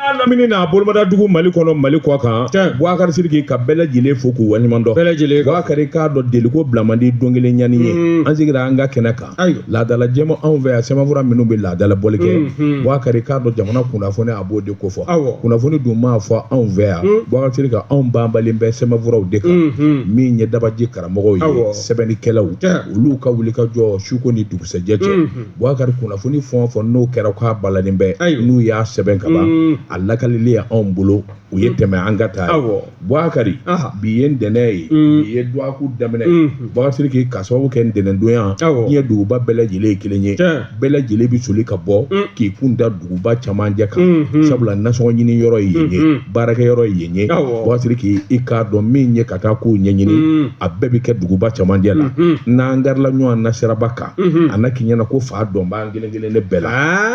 n'a lamini n'a bolomada dugu mali kɔnɔ mali kɔ kan buwakari siriki ka bɛɛ lajɛlen fo k'u waleɲuman dɔn bɛɛ lajɛlen buwakari k'a dɔn deliko bila man di don kelen ɲani ye mm. an sigira an ka kɛnɛ kan laadala jɛma anw fɛ yan sɛbɛnfura minnu bɛ laadala bɔli kɛ mm, mm. buwakari k'a dɔn jamana kunnafoni a b'o de kofɔ kunnafoni dun maa fɔ anw fɛ yan buwakari siriki anw banbalen bɛ sɛbɛnfuraw de kan min ye dabaji karamɔgɔw ye sɛbɛnnikɛlaw olu ka wulikajɔ suko ni dugusɛjɛ cɛ Bukari kunnafoni fɛn o fɛn n'o kɛra k'a balalen bɛ n'u y'a sɛbɛn ka ban a lakalili y' anw bolo u ye tɛmɛ an ka taa bukari bi ye ntɛnɛn ye bi ye dɔgɔkun daminɛ bukari siriki k'a sababu kɛ ntɛnɛndonya ye duguba bɛɛ lajɛlen ye kelen ye bɛɛ lajɛlen bɛ soli ka bɔ k'i kun da duguba camancɛ kan sabula nasɔngɔ ɲini yɔrɔ ye yen ye baarakɛ yɔrɔ ye yen ye bukari siriki i k'a dɔn min ye ka taa ko ɲɛɲini a bɛɛ bɛ kɛ duguba camancɛ la n'an garila ɲɔgɔn na siraba kan a na k'i ɲɛ na ko fa dɔ b'an kelen kelenna bɛɛ la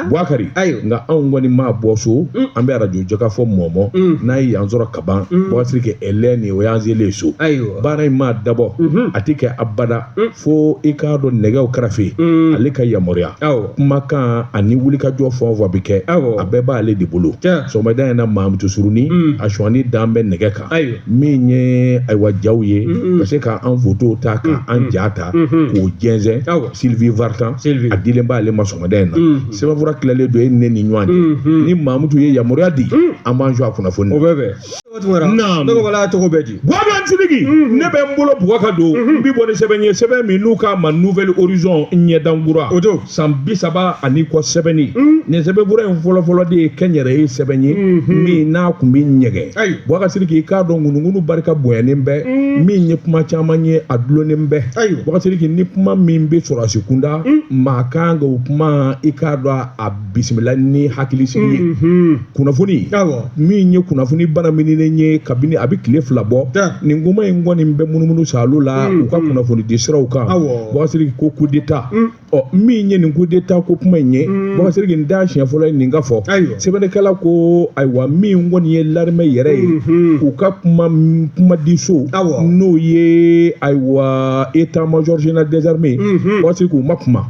Bukari nka anw kɔni maa bɔ so an bɛ arajo jɛkafɔ mɔmɔ n'an ye yan sɔrɔ kaban Bukari siriki ɛlɛn nin o y'an selen ye so baara in maa dabɔ a tɛ kɛ abada fo i k'a dɔn nɛgɛw karafe ale ka yamaruya kumakan ani wulikajɔ fɛn o fɛn bɛ kɛ a bɛɛ b'ale de bolo sɔgɔmada in na Mamutu Surunin a sɔnni dan bɛ nɛgɛ kan ayiwa min ye ayiwa jaw ye ka se ka an foto ta ka an ja ta k'o jɛnsɛn sylvie vartan a dilen b'ale ma sɔgɔmada in na sɛbɛnfura tilalen don e ne ni ɲɔgɔn cɛ ni mamutu ye yamaruya di an b'an su a kunnafoni o bɛ bɛn cogo bɛ di siriki ne bɛ n bolo buga ka don n bɛ bɔ ni sɛbɛn ye sɛbɛn min n'u k'a ma nouvel horizon ɲɛdankura o don san bisaba ani kɔ sɛbɛnni mm. nin sɛbɛnfura in fɔlɔfɔlɔ de ye kɛnyɛrɛye sɛbɛn ye mm-hmm. min n'a kun bɛ ɲɛgɛn buwakari siriki i k'a dɔn ŋunuŋunu barika bonyanen bɛ mm. min ye kuma caman ye a dulonnen bɛ buwakari siriki ni kuma min bɛ sɔrɔdasi kunda mm. maa kan ka o kuma i k'a dɔn a bisimila ni hakilisigi ye mm-hmm. kunnafoni min ye kunnafoni banamininen ye kabini a bɛ tile fila bɔ nin kuma in kɔni bɛ munumunu sa la u ka kunnafoni di siraw kan buwakari siriki ko kudeta ɔ min ye nin kudeta ko kuma in ye buwakari siriki n da siɲɛ fɔlɔ ye nin ka fɔ sɛbɛnnikɛla ko ayiwa min kɔni ye larimɛ yɛrɛ ye u ka kumadiso n'o ye ayiwa état major général des armées buwakari siriki u ma kuma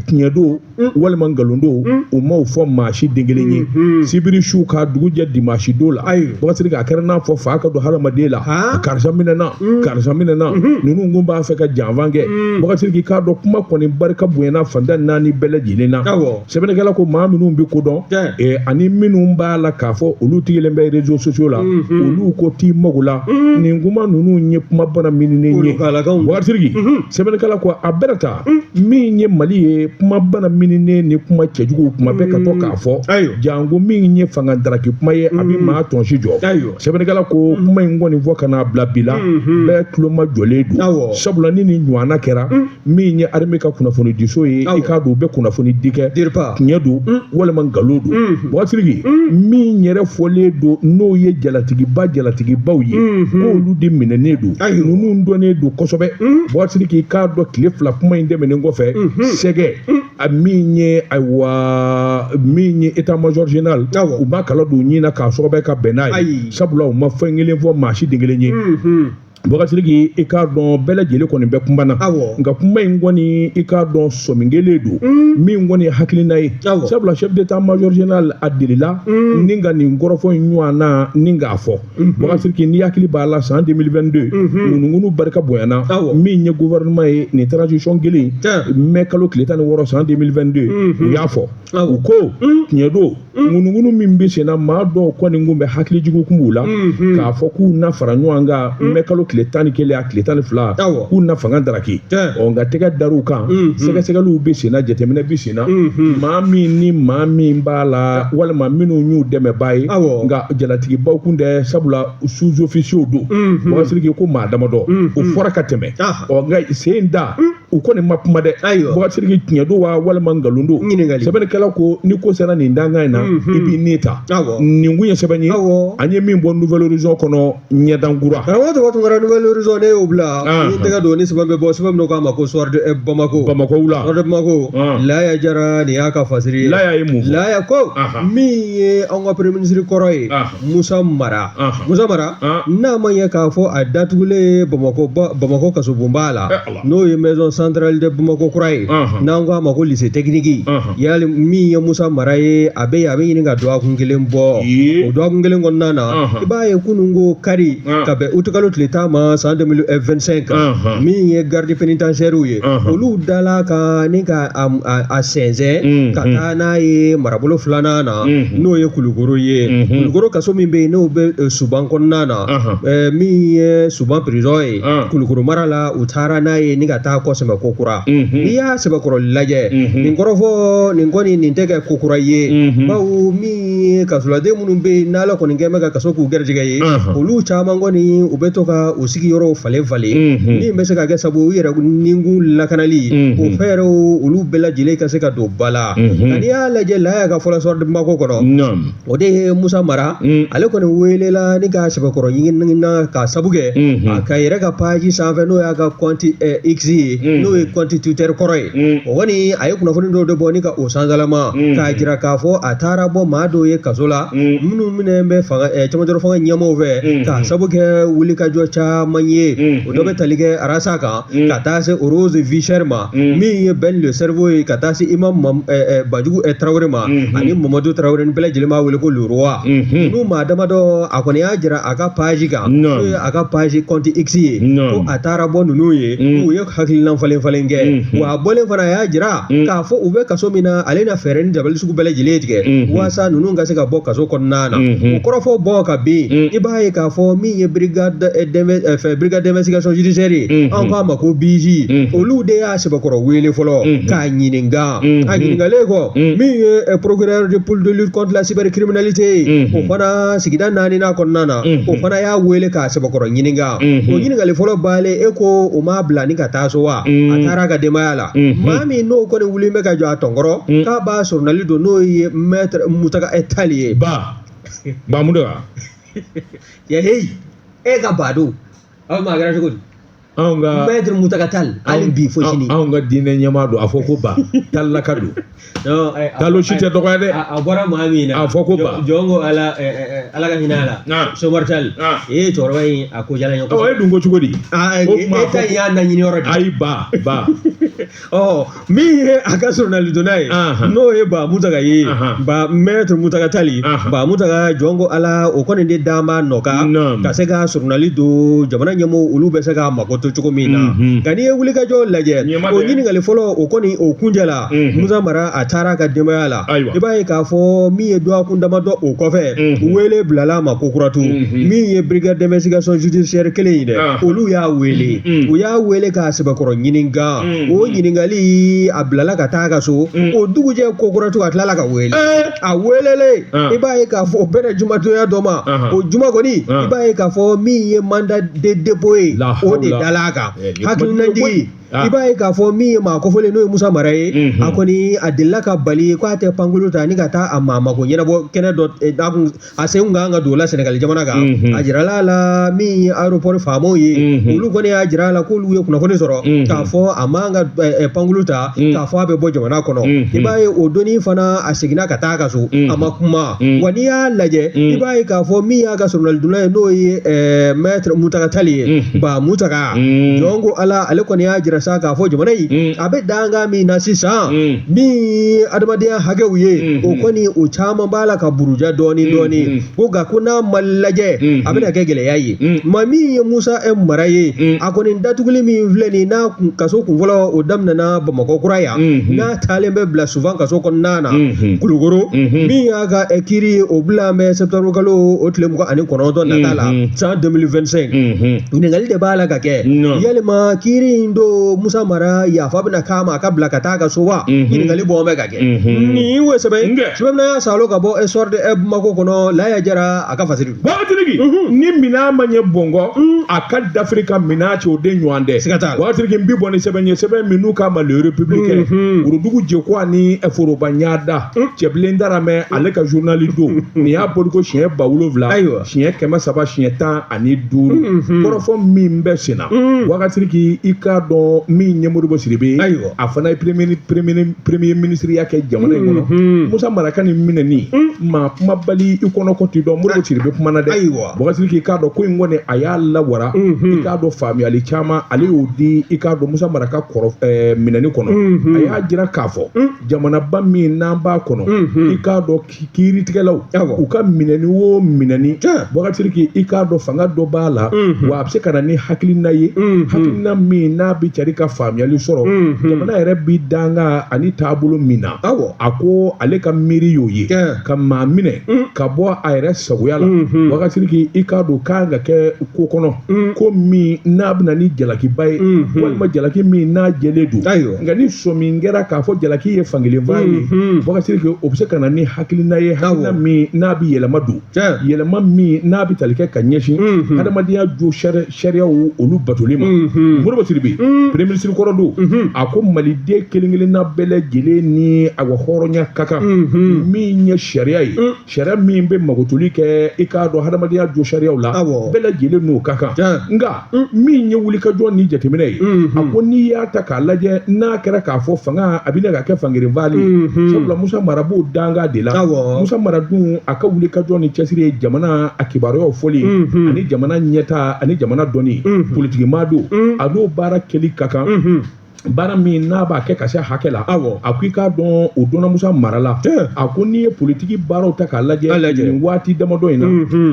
tiɲɛ don mm. walima nkalon don mm. u m'o fɔ maa si den kelen ye mm-hmm. sibiri su ka dugu jɛ dimansi don la buwakari siriki a kɛra n'a fɔ fa ka don hadamaden la karisa minɛna mm. karisa minɛna mm-hmm. ninnu kun b'a fɛ ka janfan kɛ buwakari siriki i k'a dɔn kuma kɔni barika bonyana fan tan ni naani bɛɛ lajɛlen na sɛbɛnnikɛla ko maa minnu bɛ ko dɔn eh, ani minnu b'a la k'a fɔ olu tigilen bɛ rezo sosiyo la mm-hmm. olu ko t'i mago la nin kuma ninnu ye kuma banamininen ye buwakari siriki sɛbɛnnikɛla ko a bɛrɛ ta min ye mali ye kuma bana mininen ni kuma cɛjugu kuma bɛ ka to k'a fɔ janko min ye fanga daraki kuma ye a bɛ mm. maa tɔnsi jɔ sɛbɛnnikɛla ko mm. kuma in kɔni fɔ ka n'a bila bi la mm-hmm. bɛɛ tuloma jɔlen don sabula ni nin ɲɔgɔnna kɛra mm. min ye armée ka kunnafoni diso ye i k'a dɔn u bɛ kunnafoni di kɛ tiɲɛ don walima nkalon don mm-hmm. boubacar sidiki min yɛrɛ fɔlen don n'o ye jalatigiba jalatigibaw ye mm-hmm. k'olu de minɛnen don ninnu dɔnnen don kosɛbɛ boubacar sidiki i k'a dɔn tile fila kuma in tɛmɛnen kɔfɛ sɛgɛ a min ye ayiwa min ye état major général u ma kala don ɲin na k'a sɔgɔbɛ ka bɛn n'a ye sabula u ma fɛn kelen fɔ maa si den kelen ye boubacar sidiki i k'a dɔn bɛɛ lajɛlen kɔni bɛ kuma na nka kuma in kɔni i k'a dɔn sɔmin kelen don min kɔni ye hakilina ye sabula chef d'état major général a delila ni ka nin kɔrɔfɔ in ɲɔgɔnna ni k'a fɔ boubacar sidiki n'i hakili b'a la san 2022 ŋunuŋunu barika bonyana min ye gouvernement ye nin transition kelen mai kalo tile tan ni wɔɔrɔ san 2022 u y'a fɔ u ko tiɲɛ don ŋunuŋunu min bɛ senna maa dɔw kɔni kun bɛ hakili jugu kun b'u la k'a fɔ k'u na fara ɲɔgɔn kan mai kalo tile tan ni kelen a tile tan ni fila k'u na fanga daraki ɔ nka tɛgɛ dar'u kan sɛgɛsɛgɛliw bɛ senna jateminɛ bɛ senna maa min ni maa min b'a la walima minnu y'u dɛmɛbaa ye nka jalatigibaw kun tɛ sabula sous-officiers don boubacar sidiki ko maa damadɔ o fɔra ka tɛmɛ ɔ nka sen da u kɔni ma kuma dɛ boubacar sidiki tiɲɛ don wa walima nkalon don sɛbɛnnikɛla ko ni ko sera nin dankan in na i b'i ne ta nin kun ye sɛbɛn ye an ye min bɔ nouvelle horizon kɔnɔ ɲɛdankura karamɔgɔ tɔgɔ tun kɛra nouvelle horizon ne y'o bila n tɛgɛ don ni sɛbɛn bɛ bɔ sɛbɛn min k'a ma ko soir de eh, bamako bamako wula soir de bamako laya jara nin y'a ka fasiri ye laya ye mun fɔ laya ko min ye anw ka premier ministre kɔrɔ ye musa mara musa mara n'a ma ɲɛ k'a fɔ a datugulen bamako bamako kasobonba la eh, n'o ye maison centrale de bamako kura ye n'an k'a ma ko lycée technique ya min ye musa mara ye a bɛ a bɛ ɲini ka dɔgɔkun kelen bɔ o dɔgɔkun kelen kɔnɔna na i b'a ye kunun ko kari ka bɛn août kalo tile tan ma san 2025 min ye gardes pénitentiaires ye olu dala ka ni ka a sɛnsɛn ka taa n'a ye marabolo filanan na n'o ye kulukoro ye kulukoro kaso min bɛ yen n'o bɛ suban kɔnɔna na min ye suban prison ye Ah. kulukoro mara la u taara n'a ye ni ka taa kɔ sɛmɛ ko kura Mhm. n'i y'a sɛbɛkɔrɔ lajɛ Mhm. nin kɔrɔfɔ nin kɔni nin tɛ kɛ ko kura ye Mhm. bawo min ye kasoladen minnu bɛ yen n'ala kɔni kɛ bɛ ka kaso k'u gɛrɛjɛgɛ ye Ahan. olu caman kɔni u bɛ to ka u sigiyɔrɔw falen falen Mhm. min bɛ se ka kɛ sabu u yɛrɛ nikun lakanali Mhm. o fɛɛrɛw olu bɛɛ lajɛlen ka se ka don ba la Mhm. nka n'i y'a lajɛ laya ka fɔ la soir de bamako kɔnɔ Naam. o de ye musa mara mm. ale kɔni welela ni k'a sɛbɛkɔrɔ ɲininka k'a sabu kɛ mm-hmm. a ka yɛrɛ ka page sanfɛ n'o y'a ka compte eh, x ye mm. n'o ye compte twitter kɔrɔ ye mm. o kɔni a ye kunnafoni dɔw de bɔ ni ka o sansalama k'a jira k'a fɔ a taara bɔ maa dɔw ye kaso la minnu minɛ bɛ fanga eh, camancɛrɔ fanga ɲɛmɔgɔw fɛ k'a sabu kɛ wulikajɔ caman ye o dɔ bɛ tali kɛ arasa kan mm. ka taa se rose vie chère ma mm. min ye ben le cerveau ye ka taa se imam eh, eh, banjugu eh, tarawele ma mm-hmm. ani mamadu tarawele ni bɛɛ lajɛlen b'a wele ko le roi mm-hmm. n'u maa damadɔ a kɔni y'a jira a ka page kan n'o ye a ka page compte x ye ko a taara bɔ ninnu ye mm. u ye hakilina falen falen kɛ mm-hmm. wa a bɔlen fana a y'a jira k'a fɔ u bɛ kaso min na ale na fɛɛrɛ ni dabali sugu bɛɛ lajɛlen tigɛ walasa ninnu ka se ka bɔ kaso kɔnɔna na o kɔrɔfɔ bɔ ka bin i b'a ye k'a fɔ min min ye brigade d'investigation judiciaire ye an k'a ma ko bij olu de y'a sɛbɛkɔrɔ wele fɔlɔ k'a ɲininka a ɲininkalen kɔ min ye procureur de pôle de lutte contre la cybercriminalité ye o fana sigida naaninan kɔnɔna na o fana y'a wele k'a sɛbɛkɔrɔ ɲininka o ɲininkali fɔlɔ banlen e ko o m'a bila ni ka taa so wa a taara a ka denbaya la maa min n'o kɔni wuli bɛ ka jɔ a tɔnkɔrɔ k'a b'a soronali don n'o ye maître mutaka tali ye ba ba ya hey e ka ba don aw ma kɛra cogo di anw ka mɛtiri mutaka tali hali bi fo sini anw ka diinɛ ɲɛmaa don a fɔ ko ba talilaka don Non, eh, a- talo si tɛ dɔgɔya dɛ a a bɔra maa min na A fɔ ko ba. jɔn- jɔn ko ala eh, eh, eh, ala ka hinɛ a la Na. somari tali Na. ee cɛkɔrɔba in a ko jala ɲɔgɔn e dun ko cogo di Ah, eh, o tuma e ta in y'a naɲini yɔrɔ de ayi ba ba min ye a ka soronalidonna ye n'o ye ba mutaka ye ba mɛtiri mutaka tali ba mutaka jɔn ko ala o kɔni de d'a ma nɔka ka se ka soronali don jamana ɲɛmɔgɔw olu bɛ se ka mako to cogo min na nka n'i ye wulikajɔ lajɛ o ɲininkali fɔlɔ o kɔni o kuncɛla musa mara a taara a ka denbaya la i b'a ye k'a fɔ min ye dɔgɔkun damadɔ o kɔfɛ wele bilala a ma kokura tugu min ye brigade d'investigation judiciaire kelen ye dɛ olu y'a wele u y'a wele k'a sɛbɛkɔrɔ ɲininka Ah. Mm-hmm. o ɲininkali a bilala ka taa a ka so mm. o dugujɛ kokura tugu a tilala ka wele eh. a welelen ah. i b'a ye k'a fɔ o bɛnna jumadonya don ma uh-huh. o juma kɔni ah. i b'a ye k'a fɔ min ye mandat de dépôt ye o de dala a kan eh, hakilinajigi i b'a ye k'a fɔ min ye maa kofɔlen n'o ye musa mara ye mm-hmm. a kɔni a delila ka bali ko a tɛ pankulu ta ni ka taa a maa mako ɲɛnabɔ kɛnɛ dɔ eh, a sen kun kan ka don o la sɛnɛgali jamana kan a jirala a la min ye aéroport faamaw ye olu kɔni y'a jira a la k'olu ye kunnafoni sɔrɔ k'a fɔ a man ka pankulu ta k'a fɔ a bɛ bɔ jamana kɔnɔ i b'a ye o don in fana a seginna ka taa a ka so a ma kuma wa n'i y'a lajɛ i b'a ye k'a fɔ min y'a ka soronalidonna ye n'o ye maître mutaka tali ye ba mutaka jɔn ko ala ale kɔni y'a jira sa k'a fɔ jamana in a bɛ dankan min na sisan min adamadenya hakɛw ye o kɔni o caman b'a la ka buruja dɔɔni dɔɔni ko nka ko n'a ma lajɛ a bɛna kɛ gɛlɛya ye maa min ye musa mara ye a kɔni datuguli min filɛ nin n'a kaso kun fɔlɔ o daminɛna bamakɔ kura yan n'a taalen bɛ bila suban kaso kɔnɔna na kulukoro min y'a ka kiiri ye o bila mɛ septembre kalo o tile mugan ani kɔnɔntɔn nata la san 2025 ɲininkali de b'a la ka kɛ yalima kiiri in don musa mara yafa bɛna k'a ma a ka bila ka taa a ka so wa ɲininkali bɔ bɛ ka kɛ nin ye sɛbɛn sɛbɛn min an y'a saalo ka bɔ le soir de bamakɔ kɔnɔ laya jara a ka fasiri bubakari sidiki ni minɛn ma ɲɛ bɔn kɔ a ka dafiri ka minɛn cɛ o de ɲɔgɔn tɛ siga t'a la bubakari sidiki n bɛ bɔ ni sɛbɛn ye sɛbɛn min n'u k'a ma le républicain worodugu jɛ ko ani foroba ɲada cɛbilen daramɛ ale ka zurunali don nin y'a bɔli ko siɲɛ ba wolowula ayiwa siɲɛ kɛmɛ saba siɲɛ tan ani duuru kɔrɔfɔ min bɛ sen na bubakari sidiki i k'a dɔn min ye modibo sidibe ayiwa a fana ye premier minisiriya kɛ jamana in kɔnɔ musa mara ka nin minɛni maa kumabali i kɔnɔ ko tɛ dɔn modibo sidibe kumana dɛ ayiwa bubakari sidiki i k'a dɔn ko in kɔni a y'a lawara i k'a dɔn faamuyali caman ale y'o di i k'a dɔn musa mara ka minɛni kɔnɔ a y'a jira k'a fɔ jamanaba min n'an b'a kɔnɔ i k'a dɔn kiiritigɛlaw u ka minɛni o minɛni bubakari sidiki i k'a dɔn fanga dɔ b'a la wa a bɛ se ka na ni hakilina ye hakilina min n'a bɛ cari ka faamuyali sɔrɔ jamana yɛrɛ bɛ danga ani taabolo min na a ko ale ka miiri y'o ye ka maa minɛ ka bɔ a yɛrɛ sagoya la bubakari sidiki i k'a dɔn kan ka kɛ ko kɔnɔ ko min n'a bɛ na ni jalakiba ye walima jalaki min n'a jɛlen don nka ni sɔmi kɛra k'a fɔ jalaki ye fankelenfa ye bubakari sidiki o bɛ se ka na ni hakilina ye hakilina min n'a bɛ yɛlɛma don yɛlɛma min n'a bɛ tali kɛ ka ɲɛsin adamadenya josariyaw olu batoli ma modibo sidibe premier minisiri kɔrɔ don a ko maliden kelen-kelenna bɛɛ lajɛlen ni a ka hɔrɔnya ka kan min ye sariya ye Sariya min bɛ magotoli kɛ i k'a dɔn hadamadenya josariyaw la bɛɛ lajɛlen n'o ka kan nka min ye wulikajɔ ni jateminɛ ye a ko n'i y'a ta k'a lajɛ n'a kɛra k'a fɔ fanga a bɛ na ka kɛ fankelenfa ye sabula musa mara b'o danga de la musa mara dun a ka wulikajɔ ni cɛsiri ye jamana a kibaruyaw fɔli ani jamana ɲɛta ani jamana dɔnni politikimaa don a n'o baara kɛli ka kan baara min n'a b'a kɛ ka se hakɛ la awɔ a ko i k'a dɔn o dɔnna musa mara la a ko n'i ye politiki baaraw ta k'a lajɛ nin waati damadɔ in na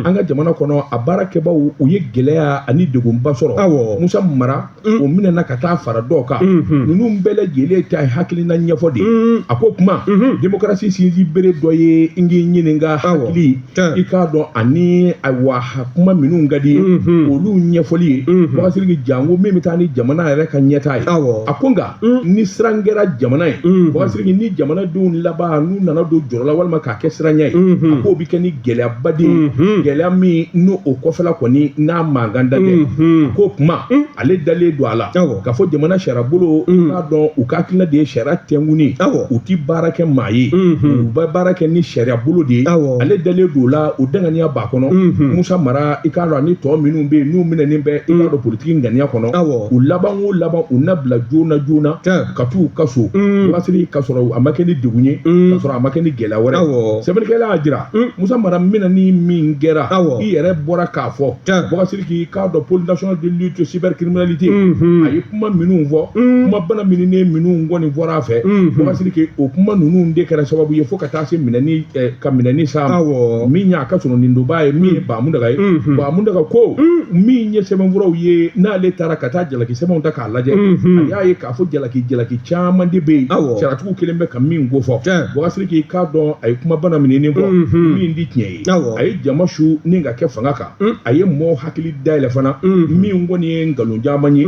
an ka jamana kɔnɔ a baarakɛbaw u ye gɛlɛya ani degunba sɔrɔ awɔ musa mara o minɛna ka taa fara dɔw kan ninnu bɛɛ lajɛlen ta ye hakilina ɲɛfɔ de ye a ko kuma demokarasi sinsinbere dɔ ye n k'i ɲininka hakili i k'a dɔn ani ayiwa kuma minnu ka di ye olu ɲɛfɔli ye Bubakari Sidiki janko min bɛ taa ni jamana yɛrɛ ka ɲɛtaa ye a ko nka ni siran kɛra jamana ye Bubakari Sidiki ni jamanadenw laban n'u nana don jɔrɔ la walima k'a kɛ siranya ye a k'o bɛ kɛ ni gɛlɛyaba de ye gɛlɛya min n'o kɔfɛla kɔni n'a mankan dan tɛ k'o kuma ale dalen don a la k'a fɔ jamana sariya bolo mm. i k'a dɔn u ka hakilina de ye sariya tɛnkuni u ti baara kɛ maa ye mm-hmm. u bɛ baara kɛ ni sariya bolo de ye ale dalen don o la o danganiya b'a kɔnɔ mm-hmm. musa mara i k'a dɔn ani tɔ minnu bɛ yen n'u minɛnen bɛ i k'a dɔn politiki ŋaniya kɔnɔ u laban o laban u na bila joona joona ka t'u ka so mm. Bubakari Sidiki ka sɔrɔ a ma kɛ ni degun ye mm. ka sɔrɔ a ma kɛ ni gɛlɛya wɛrɛ sɛbɛnnikɛla y'a jira musa mara minɛni min kɛra i yɛrɛ bɔra k'a fɔ Tiɲɛ. Bubakari Sidiki i k'a dɔn pôle national de lutte cybercriminalité Unhun. a ye kuma minnu fɔ Un. kuma bana mininen minnu kɔni fɔra a fɛ Unhun. Bubakari Sidiki o kuma ninnu de kɛra sababu ye fo ka taa se minɛni eh, ka minɛni s'a ma Awɔ. min y'a ka soronadonbaa ye min ye Ba Muntaga ye Unhun. Ba Muntaga ko min ye sɛbɛnfuraw ye n'ale taara ka taa jalaki sɛbɛnw ta k'a lajɛ Unhun. a y'a ye k'a fɔ jalaki jalaki caman de bɛ yen Awɔ. sariyatigiw kɛlen bɛ ka min kofɔ Tiɲɛ. Bubakari Sidiki i k'a dɔn a ye kuma bana mininen fɔ Unhun. min ti tiɲɛ ye a ye jama su ni ka kɛ fanga kan a ye mɔgɔw hakili dayɛlɛ fana min kɔni ye nkalon caman ye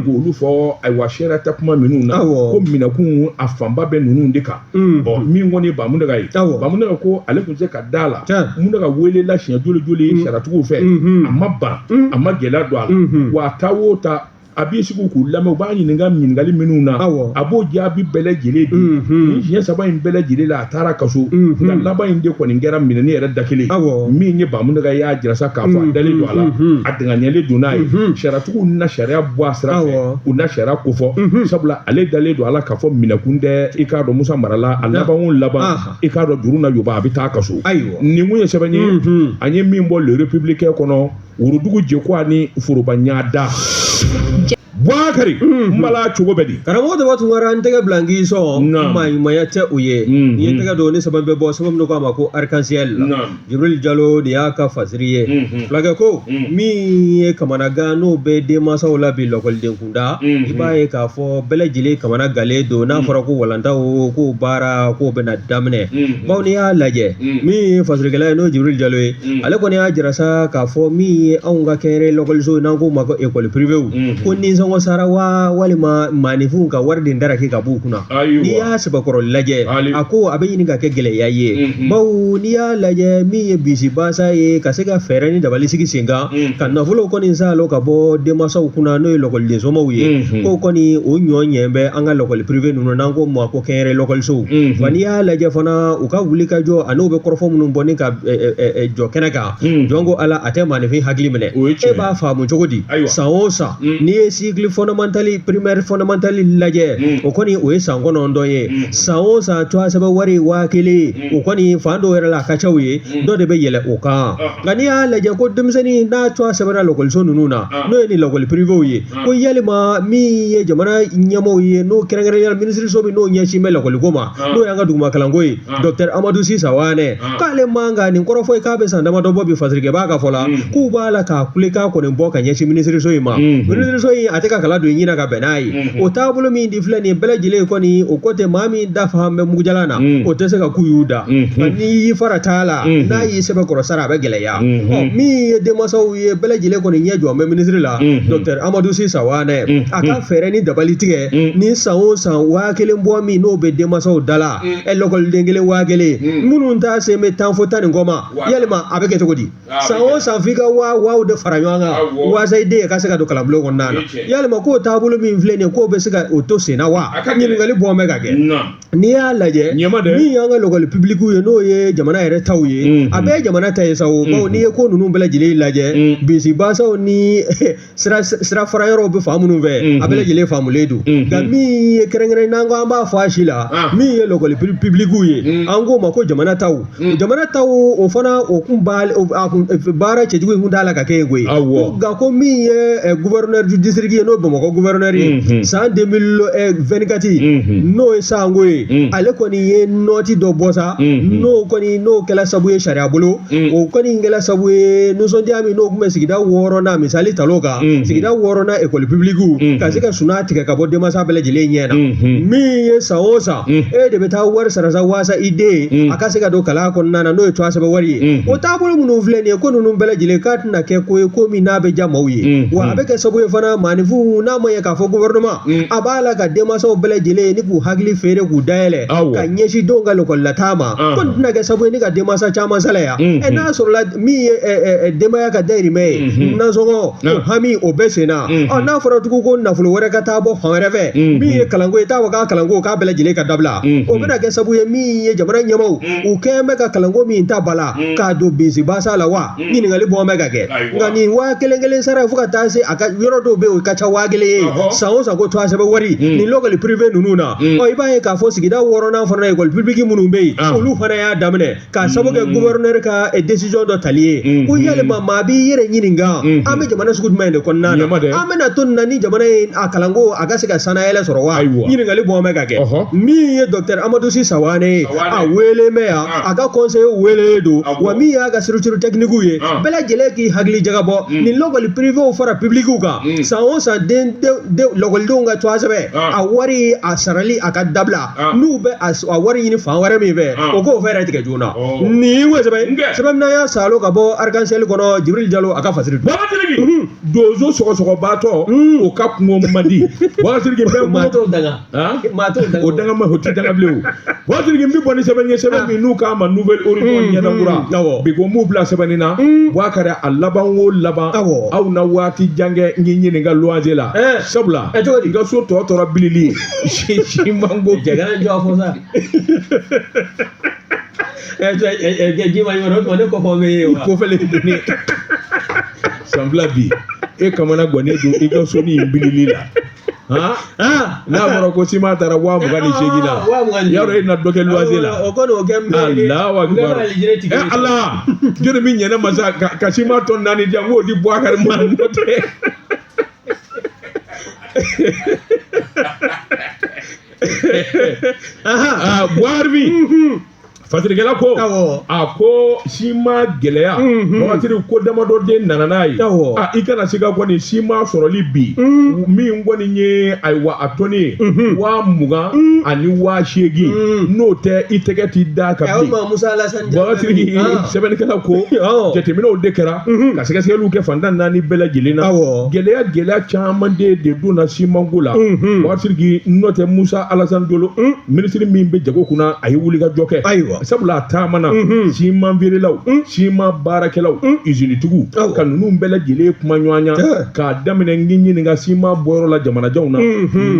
k'olu fɔ ayiwa sariya tɛ kuma minnu na ko minɛkun a fanba bɛ ninnu de kan ɔ min kɔni Ba Muntaga ye Ba Muntaga ko ale tun tɛ se ka da a la Muntaga welela siɲɛ joli joli sariyatigiw fɛ a ma ban a ma gɛlɛya don a la wa a taa o taa a b'i sigi k'u lamɛn u b'a ɲininka ɲininkali minnu na a b'o jaabi bɛɛ lajɛlen di nin siɲɛ saba in bɛɛ lajɛlen la a taar'a ka so nka laban in de kɔni kɛra minɛni yɛrɛ da kelen min ye Ba Muntaga y'a jira sa k'a fɔ a dalen don a la a danganyalen don n'a ye sariyatigiw na sariya bɔ a sira fɛ u na sariya kofɔ sabula ale dalen don a la k'a fɔ minɛkun tɛ i k'a dɔn musa mara la a laban o laban i k'a dɔn juru na yɔba a bɛ t'a ka so ayiwa nin kun ye sɛbɛn ye an ye min bɔ le républicain kɔnɔ worodugu jɛku ani foroba ɲada Bubakari n bala cogo bɛ di karamɔgɔ dɔ tun wara n tɛgɛ bila n k'i sɔn maaɲumanya tɛ u ye n ye tɛgɛ don ni sɛbɛn bɛ bɔ sɛbɛn min n'u k'a ma ko arc-en-ciel Jibril Jalo de y'a ka fasiri ye fulakɛ ko min ye kamanagan n'o bɛ denmansaw la bi lakɔliden da i b'a ye k'a fɔ bɛɛ lajɛlen kamanagannen don n'a fɔra ko walanda o ko baara k'o bɛna daminɛ bawo n'i y'a lajɛ min ye fasirikɛla ye n'o Jibril Jalo ye ale kɔni y'a jira sa k'a fɔ min ye anw ka kɛnyɛrɛ lakɔliso n'an k'o ma ko école privée ko nisɔngɔ sarabaa walima maaninfin ka wari de da kɛ ka b'u kunna n'i y'a sɛbɛkɔrɔ lajɛ a ko a bɛ ɲini ka kɛ gɛlɛya ye bawo n'i y'a lajɛ min ye bisibasa ye ka se ka fɛɛrɛ ni dabali sigi sen kan ka nafolo kɔni saalo ka bɔ denmansaw kunna n'o ye lakɔliden somaaw ye ko kɔni o ɲɔ ɲɛ bɛ an ka lakɔli piriwe ninnu n'an ko ma ko kɛnyɛrɛ lakɔlisow wa n'i y'a lajɛ fana u ka wuli ka jɔ a n'u bɛ kɔrɔfɔ minnu bɔ ni ka jɔ kɛnɛ kan jɔn ko ala a tɛ maaninfin hakili minɛ e b'a faamu cogo di san o san n'i ye sikili fɔndamantali pirimɛri fɔndamantali lajɛ o kɔni o ye san kɔnɔntɔn ye san o san tɔgɔ sɛbɛn wari waa kelen o kɔni fan dɔw yɛrɛ la a ka ca o ye dɔ de bɛ yɛlɛ o kan nka n'i y'a lajɛ ko denmisɛnnin n'a tɔgɔ sɛbɛnna lakɔliso ninnu na n'o ye nin lakɔli piriwew ye ko yalima min ye jamana ɲɛmaaw ye n'o kɛrɛnkɛrɛnnenya la minisiriso min n'o ɲɛsin bɛ lakɔliko ma n'o y'an ka duguma kalanko ye dɔkitɛri amadu si sawanɛ k'ale man kan nin kɔrɔfɔ ye k'a bɛ san damadɔ bɔ bi fasirikɛ b'a ka fɔ la k'u b'a la k'a kulekan kɔni bɔ ka ɲɛsin minisiriso in ma minisiriso in a tɛ ka kala don ɲin na ka bɛn n'a ye o taabolo min filɛ nin bɛɛ lajɛlen kɔni o ko tɛ maa min da fa bɛ mugujalan na o tɛ se ka kuyu da n'i y'i farat'a la n'a y'i sɛbɛkɔrɔ sara a bɛ gɛlɛya min ye denmansaw ye bɛɛ lajɛlen kɔni ɲɛ jɔ bɛ minisiri la dɔkitɛri amadu si sawanɛ a ka fɛɛrɛ ni dabali tigɛ ni san o san waa kelen bɔ min n'o bɛ denmansaw da la ɛ lakɔliden kelen waa kelen minnu ta sen bɛ tan fo tan ni kɔ ma yalima a bɛ kɛ cogo di san o san f'i ka waa waaw de fara ɲɔgɔn kan waasa i den ka se ka don kalanbulon kɔnɔna na yalima k'o taabolo min filɛ nin ye k'o bɛ se ka o to sen na wa ɲininkali bɔn bɛ ka kɛ n'i y'a lajɛ min y'an ka lɔgɔli pibilikiw ye n'o ye jamana yɛrɛ taw ye a bɛɛ ye jamana ta ye sa o bawo n'i ye ko ninnu bɛɛ lajɛlen lajɛ bisibasaw ni sira fara yɔrɔw bɛ fan minnu fɛ a bɛɛ lajɛlen faamulen don nka min ye kɛrɛnkɛrɛn n'an ko an b'a fɔ a si la min ye lakɔli pibilikiw ye an k'o ma ko jamana taw jamana taw o fana o kun baara cɛjugu in kun t'a la ka kɛ yen koyi nka ko min ye gufɛrɛnɛri disiriki ye n'o bamakɔ gufɛrɛnɛri ye san de mili wɛnti kati n'o ye sango ye ale kɔni ye nɔti dɔ bɔ sa n'o kɔni n'o kɛra sabu ye sariya bolo o kɔni in kɛra sabu ye nisɔndiya min n'o tun bɛ sigida wɔɔrɔnan misali ta kan sigida wɔɔrɔnan ekɔli pibiliki ka se ka suna tigɛ ka bɔ denmansa bɛɛ lajɛlen ɲɛ na min ye san o san e de bɛ taa wari sara waasa i den a ka se ka don kalan kɔnɔna na n'o ye twa sɛbɛn wari ye o taabolo minnu filɛ nin ye ko ninnu bɛɛ lajɛlen k'a tɛna kɛ ko ye ko min n'a bɛ diya maaw ye wa a bɛ kɛ sababu ye fana maaninfinw n'a ma ɲɛ k'a fɔ gufɛrɛnama Mm. a b'a la ka denmansaw bɛɛ lajɛlen ye ni k'u hakili feere k'u dayɛlɛ Awɔ. ka ɲɛsin denw ka lakɔlilataa ma Ɔhɔn. ko nin tɛna kɛ sabu ye ni ka denmansa caman salaya Mhm. ɛ n'a sɔrɔla min ye ɛ, ɛ, ɛ, denbaya ka dayirimɛ ye Mhm. nasɔngɔ o Ah. hami o bɛɛ sen na Mhm. ɔ n'a fɔra tugun ko nafolo wɛrɛ ka taa bɔ fan wɛrɛ fɛ Mhm. min ye kalanko ye t'a fɔ k'a kalanko k'a bɛɛ lajɛlen ka dabila Mhm. o bɛna kɛ sabu ye min ye jamana ɲɛmaaw u kɛn bɛ ka kalanko min ta ba la k'a don bensinbasa la wa ɲininkali bɔ bɛ ka kɛ nka nin waa kelen kelen sara fo ka taa se a ka yɔrɔ dɔw bɛ yen o ka ca waa kelen ye san o san ko tɔgɔ sɛbɛn wari nin lɔkɔli pirive ninnu na ɔ i b'a ye k'a fɔ sigida wɔɔrɔnan fana ekɔli pibiliki minnu bɛ yen olu fana y'a daminɛ k'a sabu kɛ guvɛrinɛri ka desiziyɔn dɔ tali ye ko yalima maa b'i yɛrɛ ɲininka an bɛ jamana sugu jumɛn de kɔnɔna na an bɛna to nin na ni jamana ye a kalanko a ka se ka sannayɛlɛn sɔrɔ wa ɲininkali bɔ bɛ ka kɛ min ye dɔkitɛri amadou sy savane ye a weele bɛ yan a ka kɔnsɛyi weelelen don wa min y'a ka stiricuru tɛkiniku ye bɛɛ lajɛlen k'i hakili jagabɔ nin lakɔli pirivew fara pibilikiw kan san o san lakɔlidenw ka tɔgɔsɛbɛn a wari a sarali a ka dabila n'u bɛ a wari ɲini fan wɛrɛ min fɛ o k'o fɛɛrɛ tigɛ joona nin ye sɛbɛn min y'a salo ka bɔ arc-en-ciel kɔnɔ jibirili jalo a ka fasiri donso sɔgɔsɔgɔbatɔ o ka kungo man di maa t'o daga o daga ma o ti daga bilen o basiriki n bɛ bɔ ni sɛbɛn ye sɛbɛn min n'u k'a ma nouvelle horizon ɲɛnakura awɔ bi ko n b'u bila sɛbɛnni na buwakari a laban o laban awɔ aw na waati jan kɛ n ye ɲininka luwanse la sabula ɛ cogo di n ka so tɔ tora bilili si simanko jɛgɛ jɔ a fɔ sa ɛ cɛ ɛ ɛ ji ma ɲɔgɔn na o tuma ne kɔfɛ bɛ ye wa kofɛlen doni san fila bi e kamanagannen don i ka so ni bilili la n'a fɔra ko sima taara waa mugan ni seegin na yaro e na dɔ kɛ luwanse la alahu akibaru ala jɔnni min ɲɛna masa ka sima tɔni naani di yan n k'o di buwakari ma n'o tɛ buwakari fasirikɛla ko awɔ a ko sima gɛlɛya Mhm. basiriki ko damadɔ de nana n'a ye Awɔ. a i kana se ka kɔni sima sɔrɔli bi Mhm. min kɔni ye ayiwa a tɔni ye Mhm. waa mugan Mhm. ani waa seegin Mhm. n'o tɛ i tɛgɛ tɛ d'a kan aw bin ma musa alasan basiriki sɛbɛnnikɛla ko Awɔ. jateminɛw de kɛra Mhm. ka sɛgɛsɛgɛliw kɛ fan tan ni naani bɛɛ lajɛlen na Awɔ. gɛlɛya gɛlɛya caman de de donna simanko la Mhm. basiriki n'o tɛ musa alasan jalo Mhm. minisiri min bɛ jago kunna a ye wulikajɔ kɛ ayiwa sabula a taamana siman feerelaw siman baarakɛlaw izinitigiw ka ninnu bɛɛ lajɛlen kumaɲɔgɔnya k'a daminɛ n ɲininka siman bɔyɔrɔ la jamanajanw na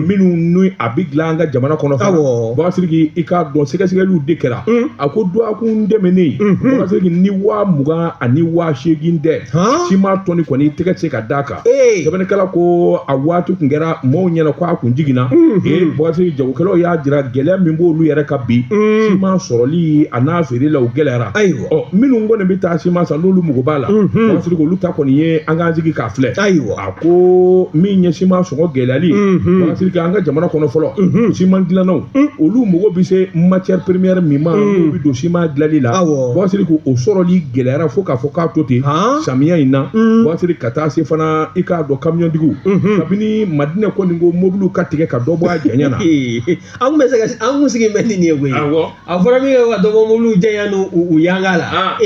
minnu ni a bɛ dilan an ka jamana kɔnɔ fana basiriki i k'a dɔn sɛgɛsɛgɛliw de kɛra a ko dɔgɔkun tɛmɛnen basiriki ni waa mugan ani waa seegin dɛ siman tɔni kɔni i tɛgɛ tɛ se ka d'a kan ee sɛbɛnnikɛla ko a waati tun kɛra mɔɔw ɲɛna ko a kun jiginna ee Bakasiriki jagokɛlaw y'a jira gɛlɛya min b'olu yɛrɛ kan bi siman sɔrɔli a n'a feere la o gɛlɛyara Ayiwa. ɔ minnu kɔni bɛ taa siman san n'olu mago b'a la Bakasiriki olu ta kɔni ye an k'an sigi k'a filɛ Ayiwa. a ko min ye siman sɔngɔ gɛlɛyali Bakasiriki an ka jamana kɔnɔ fɔlɔ siman dilannaw olu mago bɛ se matière première min ma n'u bɛ don siman dilanli la Awɔ. Bakasiriki o sɔrɔli gɛlɛyara fo k'a fɔ k'a to ten Han? samiya in na Bakasiriki ka taa se fana i k'a dɔn kamiyɔntigiw mhm. kabini madinɛ kɔni ko mobiliw ka tigɛ ka dɔ bɔ a janya na an kun bɛ se ka an kun sigi bɛ nin de ye koyi a fɔra min ka dɔ bɔ mobiliw janya n'u u yanga la ah.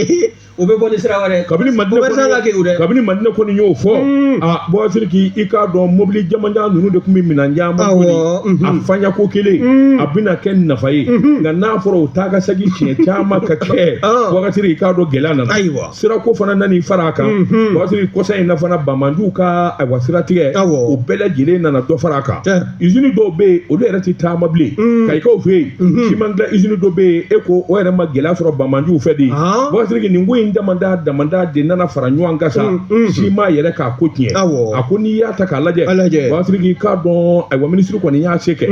o bɛ bɔ ni sira wɛrɛ kabini madinɛ kɔni kabini madinɛ kɔni y'o fɔ mm. Bakasiriki i k'a dɔn mobili jamanjan ninnu de tun bɛ minɛn caman kɔni mhm. a fanya ko kelen mm. a bɛna kɛ nafa ye mhm. nka n'a fɔra o taa ka segin siɲɛ caman ka kɛ ah. Bakasiriki i k'a dɔn gɛlɛya nana ayiwa sirako fana nana i fara a kan Bakasiriki kɔsa in na fana banbaanciw ka ayiwa siratigɛ Awɔ. o bɛɛ lajɛlen nana dɔ fara a kan Tiɲɛ. izini dɔw bɛ yen olu yɛrɛ tɛ taama bilen Kayikaw fɛ yen siman dilan izini dɔ bɛ yen e ko o yɛrɛ ma gɛlɛya sɔrɔ banbaanciw fɛ de Ahan. Bakasiriki nin ko in damanda damanda de nana fara ɲɔgɔn kan sa siman yɛrɛ ka ko tiɲɛ Awɔ. a ko n'i y'a ta k'a lajɛ A lajɛ. Bakasiriki i k'a dɔn ayiwa minisiri kɔni y'a se kɛ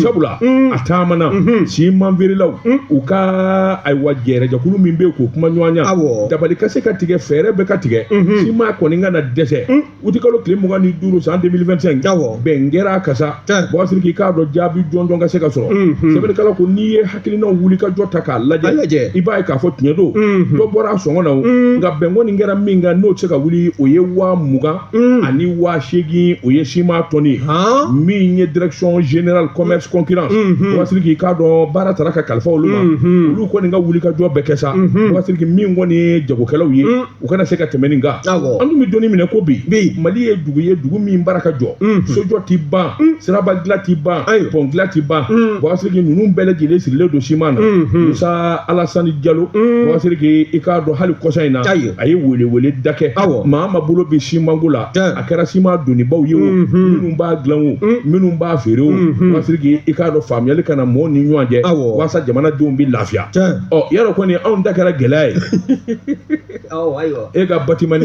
sabula a taamana siman feerelaw u ka ayiwa jɛrɛjɛkulu min bɛ yen k'o kumaɲɔgɔnya Awɔ. dabali ka se ka tigɛ fɛɛrɛ bɛɛ ka tigɛ siman kɔni kana dɛsɛ utikalo tile mugan ni duuru san 2025 Awɔ. bɛn kɛra a kan sa Tiɲɛ. Bakasiriki i k'a dɔn jaabi jɔnjɔn ka se ka sɔrɔ sɛbɛnnikɛla ko n'i ye hakilinaw wuli ka jɔ ta k'a A lajɛ lajɛ. i b'a ye k'a fɔ tiɲɛ don dɔ bɔra a sɔngɔ na o nka bɛn kɔni kɛra min kan n'o tɛ se ka wuli o ye waa mugan ani waa seegin o ye siman tɔni ye min ye direction générale commerce concurrence Bakasiriki i k'a dɔn baara taara ka kalifa olu ma olu kɔni ka wuli ka jɔ bɛɛ kɛ sa Bakasiriki min kɔni ye jagokɛlaw ye u kana se ka tɛmɛ nin kan an dun bɛ don min na i ko bi mali ye dugu ye dugu min baara ka jɔ sojɔ tɛ ban siraba dilan tɛ ban pɔn dilan tɛ ban Bakasiriki ninnu bɛɛ lajɛlen sirilen don siman na Musa Alasani Jalo Bakasiriki i k'a dɔn hali kɔsa in na a ye weleweleda kɛ maa o maa bolo bɛ simanko la a kɛra siman donnibaw ye o minnu b'a dilan o minnu b'a feere o Bakasiriki i k'a dɔn faamuyali ka na mɔgɔw ni ɲɔgɔn cɛ walasasa jamanadenw bɛ lafiya Yarɔ kɔni anw ta kɛra gɛlɛya ye e ka batiman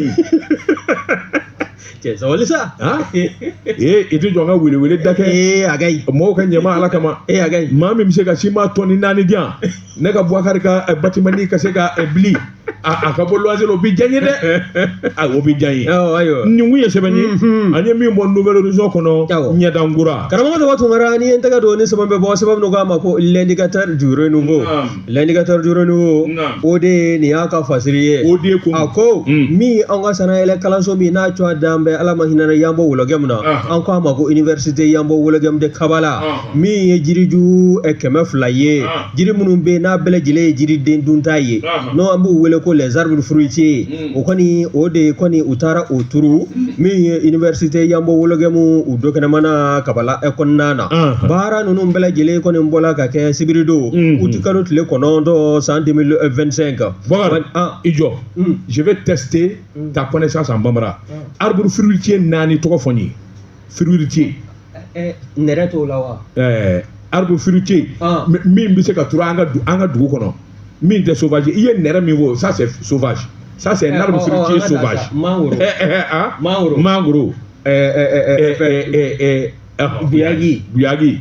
sabali sa ee i tɛ jɔ ka weleweleda kɛ ee a mɔgɔw ka ɲɛma ala kama ee a maa min bɛ se ka siman tɔni naani di yan ne ka bukari ka batiman ka se ka bili a ka bɔ luwanse la o bɛ diya n ye dɛ a o bɛ diya n ye nin kun ye sɛbɛn ye an ye min bɔ nouvel horizon kɔnɔ ɲɛdankura karamɔgɔ dabo tunkara ni n tɛgɛ don ni sɛbɛn bɛ bɔ sɛbɛn dɔ k'a ma ko l'indicateur du renouveau l'indicateur du renouveau o de ye nin y'a ka fasiri ye o de ko a ko min an ka sanayɛlɛ kalanso min n'a tɔgɔ dalen bɛ ala ma hinɛ yanbo wologɛmu na an k'a ma ko université yanbo wologɛmu de kabala min ye jiriju kɛmɛ fila ye jiri minnu bɛ n'a bɛɛ lajɛlen ye jiriden dunta ye n' an b'u wele ko les arbres fruitiers o kɔni o de kɔni u taara o turu min ye université yanbo wologɛmu u dukɛnɛma na kabala ɛ kɔnɔna na baara ninnu bɛɛ lajɛlen kɔni bɔla ka kɛ sibiridon utikalo tile kɔnɔntɔn san deux mille vingt-cinq i jɔ je vais tester ta connaissance en bambara arbre fruitier naani tɔgɔ fɔ n ye fruitier eh, nɛrɛ t'o la wa eh, arbre fruitier ah. min bɛ se ka turu an ka dugu kɔnɔ min tɛ sauvage i ye nɛrɛ min fɔ ça c'est sauvage ça c'est un arbre fruitier sauvage mangoro mangoro mangoro buyagi buyagi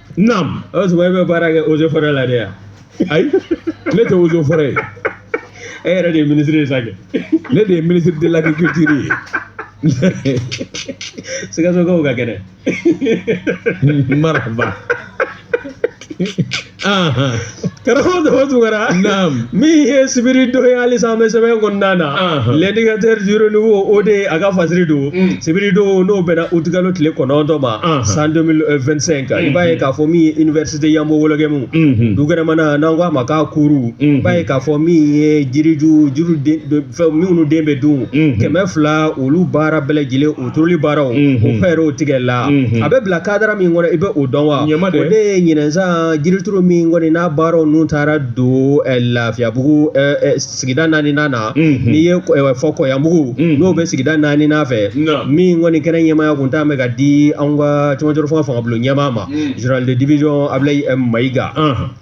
Naamu o y'a sɔrɔ e bɛ baara kɛ eaux et forêts la de yan ayi ne tɛ eaux et forêts ye e yɛrɛ de ye minisiri ye sa kɛ ne de ye ministre de l'agriculture ye sikasokaw ka kɛnɛ maraba Karamɔgɔ dabo tunkara min ye sibiri don ye halisa an bɛ sɛbɛn kɔnɔna na l'indicateur du renouveau o de ye a ka fasiri don sibiri don n'o bɛnna utikalo tile kɔnɔntɔn ma san deux mille vingt-cinq i b'a ye k'a fɔ min ye université yanbo wologɛmu dukɛnɛma na n'an k'a ma ko cour i b'a ye k'a fɔ min ye jiriju jiri fɛn minnu den bɛ dun kɛmɛ fila olu baara bɛɛ lajɛlen o turuli baaraw o fɛɛrɛw tigɛ la a bɛ bila cadre min kɔnɔ i bɛ o dɔn wa o de ye ɲinan san jirituru min kɔni n'a baaraw ninnu taara don lafiyabugu sigida naani na n'i ye fɔ kɔyanbugu n'o bɛ sigida naani fɛ min kɔni kɛnɛ ɲɛmaaya tun t'a bɛ ka di an ka cɛmancɛ fanga fangabulon ɲɛmaa ma général de division abulayi mayiga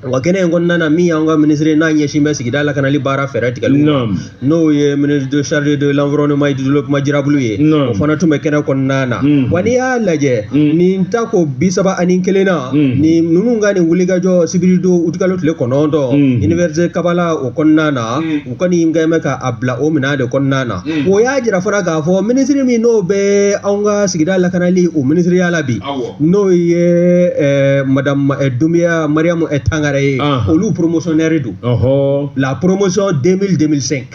Wa kɛnɛ in kɔnɔna na min y'an ka minisiri n'a ɲɛsin bɛ sigida lakanali baara fɛɛrɛ tigɛli ma n'o ye ministre chargé de l'environnement et du développement durable ye o fana tun bɛ kɛnɛ kɔnɔna na wa n'i y'a lajɛ nin tako bi saba ani kelen na ni ninnu ka nin wulikajɔ sibiri don utikalo tile kɔnɔntɔn université kabala o kɔnɔna na u kɔni kɛlen bɛ ka a bila o minɛn de kɔnɔna na o y'a jira fana k'a fɔ minisiri min n'o bɛ anw ka sigida lakanali o minisiriya la bi n'o ye madame dunbiya mariyamu tangara ye olu promotionnaire don la promotion deux mille deux mille cinq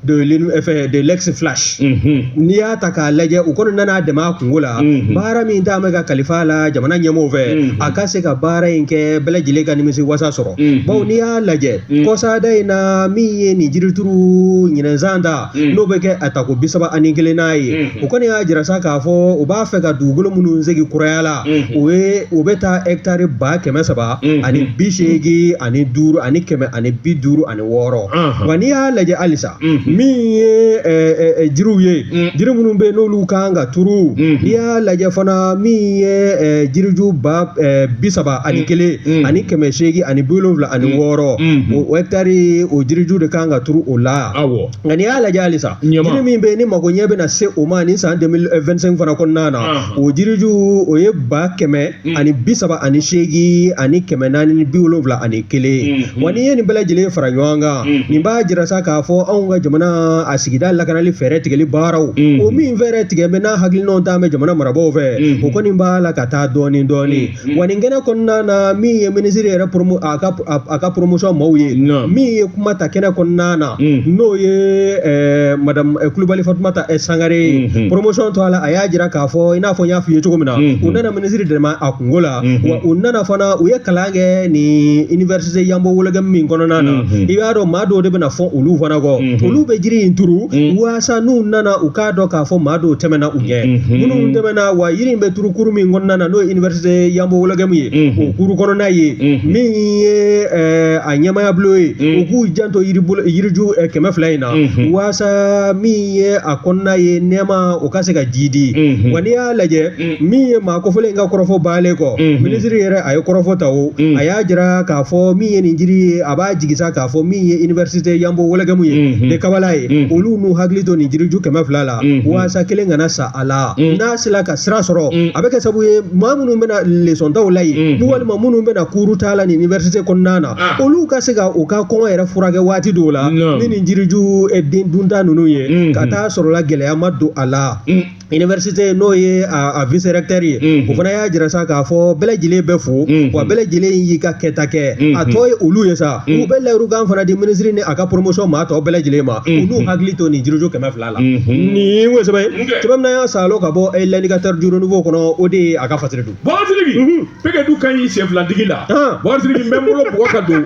de l'ex flash n'i y'a ta k'a lajɛ u kɔni nana dɛmɛ a kunko la baara min d'a bɛ ka kalifa la jamana ɲɛmɔgɔ fɛ a ka se ka baara in kɛ bɛɛ lajɛlen ka nimisi wasa sɔrɔ bawo n'i y'a lajɛ kɔsaada in na min ye nin jirituru ɲinɛnsan ta n'o bɛ kɛ a tako bi saba ani kelen nan ye o kɔni y'a jira sa k'a fɔ u b'a fɛ ka dugukolo minnu segi kuraya la o ye o bɛ taa hɛkitari ba kɛmɛ saba ani bi seegin ani duuru ani kɛmɛ ani bi duuru ani wɔɔrɔ wa n'i y'a lajɛ halisa min ye jiriw ye jiri minnu bɛ yen n'olu kan ka turu n'i y'a lajɛ fana min ye jiriju ba bi saba ani kelen ani kɛmɛ seegin ani bi wolonwula ani mm. wɔɔrɔ mm-hmm. o hɛkitari o jiriju de kan ka turu o la nka n'i y'a lajɛ halisa jiri min bɛ yen ni mago ɲɛ bɛna se o ma ni san 2025 eh, fana kɔnɔna na o jiriju o ye ba kɛmɛ mm. ani bi saba ani seegin ani kɛmɛ naani ni bi wolonwula ani kelen mm-hmm. wa n'i ye nin bɛɛ lajɛlen fara ɲɔgɔn kan mm-hmm. nin b'a jira sa k'a fɔ anw ka jamana a sigida lakanali fɛɛrɛ tigɛli baaraw o min fɛɛrɛ tigɛ bɛ n'a hakilinaw ta bɛ jamana marabaaw fɛ o kɔni b'a la ka taa dɔɔnin dɔɔnin wa nin kɛnɛ kɔnɔna na min ye minisiri yɛrɛ promo a ka a ka promotion maaw ye Naam. min ye kuma ta kɛnɛ kɔnɔna na Mm. n'o ye eh, madame eh, kulubali fatumata eh, sangare ye Mhm. promotion tɔɔ la a y'a jira k'a fɔ i n'a fɔ n y'a f'i ye cogo min na Mhm. u nana minisiri dɛmɛ a kunko la Mhm. wa u nana fana u ye kalan kɛ nin université yanbo wologɛmu min kɔnɔna na Mhm. i b'a dɔn maa dɔw de bɛna fɔ olu fana kɔ Mhm. olu bɛ jiri in turu Mhm. wa walasa n'u nana u k'a dɔn k'a fɔ maa dɔw tɛmɛna u ɲɛ minnu tɛmɛna wa yiri in bɛ turu kuru min kɔnɔna na n'o ye université yanbo wologɛmu ye o kuru kɔnɔna ye min ye a ɲɛmaayabulon ye u k'u janto yiriju kɛmɛ fila in na waasa min ye a kɔnɔna ye nɛɛma o ka se ka jiidi wa n'i y'a lajɛ min ye maa kofɔlen in ka kɔrɔfɔ bannen kɔ minisiri yɛrɛ a ye kɔrɔfɔ ta o a y'a jira k'a fɔ min ye nin jiri ye a b'a jigi sa k'a fɔ min ye université yanbo wologɛmu ye de kabala ye olu n'u hakili to nin jiriju kɛmɛ fila la waasa kelen kana sa a la n'a sera ka sira sɔrɔ a bɛ kɛ sabu ye maa minnu bɛna leçon ta la yen ni walima minnu bɛna cours ta la nin université kɔnɔna na olu ka se ka u ka kɔngɔ yɛrɛ furakɛ waati dɔw la ni nin jiriju den dunta ninnu ye ka taa sɔrɔla gɛlɛya ma don a la université n'o ye a vice recteur ye o fana y'a jira sa k'a fɔ bɛɛ lajɛlen bɛ fo wa bɛɛ lajɛlen y'i ka kɛta kɛ a tɔ ye olu ye sa u bɛ layirukan fana di minisiri ni a ka promotion maa tɔ bɛɛ lajɛlen ma u n'u hakili to nin jiriju kɛmɛ fila la nin ye n ko sɛbɛn sɛbɛn min y'a salo ka bɔ l'indicateur du renouveau kɔnɔ o de ye a ka fasiri don bakari sidiki peke du ka ɲi sen filatigi la bakari sidiki n bɛ n bolo bɔgɔ ka don